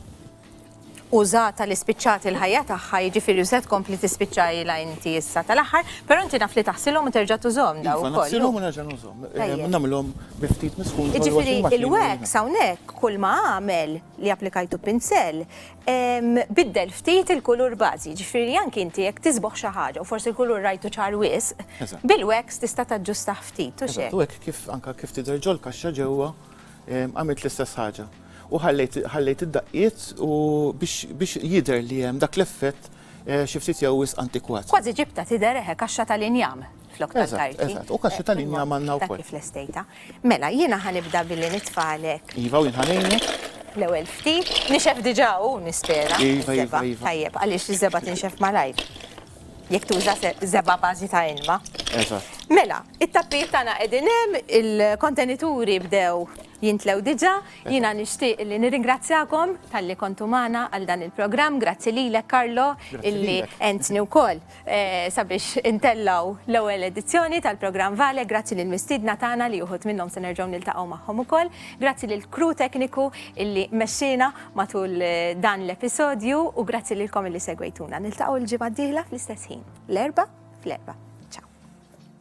Użata li spiċċat il-ħajja tagħha jiġifieri u se tkompli tispiċċa ilha inti issa tal-aħħar, però inti naf li taħsilhom u terġa' tużhom daw ukoll. Iva, Naħsilhom u nerġa' nużhom. Eh, Nagħmilhom bi ftit miskun. Jiġifieri il-wax hawnhekk kull ma għamel li applikajtu pinsel, Biddel ftit il-kulur bażi, jiġifieri anki inti jekk tisbogħ xi ħaġa u forsi l-kulur rajtu ċar wisq, bil-wax tista' taġġustah ftit, hux hekk? Eżatt, u hekk kif anke kif tidher ġol-kaxxa ġewwa għamilt l-istess ħaġa. U ħallejt id-daqqiet u biex jidher li hemm dak l-effett. xi ftit jew wisq antikwat. Kważi ġibtha tidher eħe kaxxa tal-injam flok tal-karti. Eżatt, eżatt, u kaxxi tal-injam għandna wkoll. Kif lestejta. Mela, jiena ħanibda billi nitfagħlek. Iva, u jien ħanejnek. L-ewwel ftit, nixef diġà hu nispera. Iva, iva, iva. Tajjeb, għaliex iż-żebgħa tinxef malajr. Jekk tuża żebgħa bażi ta' ilma. Eżatt. Mela, it-tappijiet tagħna qegħdin hemm, il-kontenituri bdew jintlew diġà, Jiena nixtieq li nirringrazzjakom talli kontu magħna għal dan il-programm. Grazzi lilek Karlo illi għentni wkoll eh, sabiex intellaw l-ewwel edizzjoni tal-programm Vale. Grazzi lil mistiedna tagħna li uħud minnhom se nerġgħu niltaqgħu magħhom ukoll. Grazzi lil kru tekniku illi mexxina matul eh, dan l-episodju u grazzi lilkom illi segwejtuna. Niltaqgħu l-ġimgħa d-dieħla fl-istess ħin. L-erba' fl-erba'. Ciao.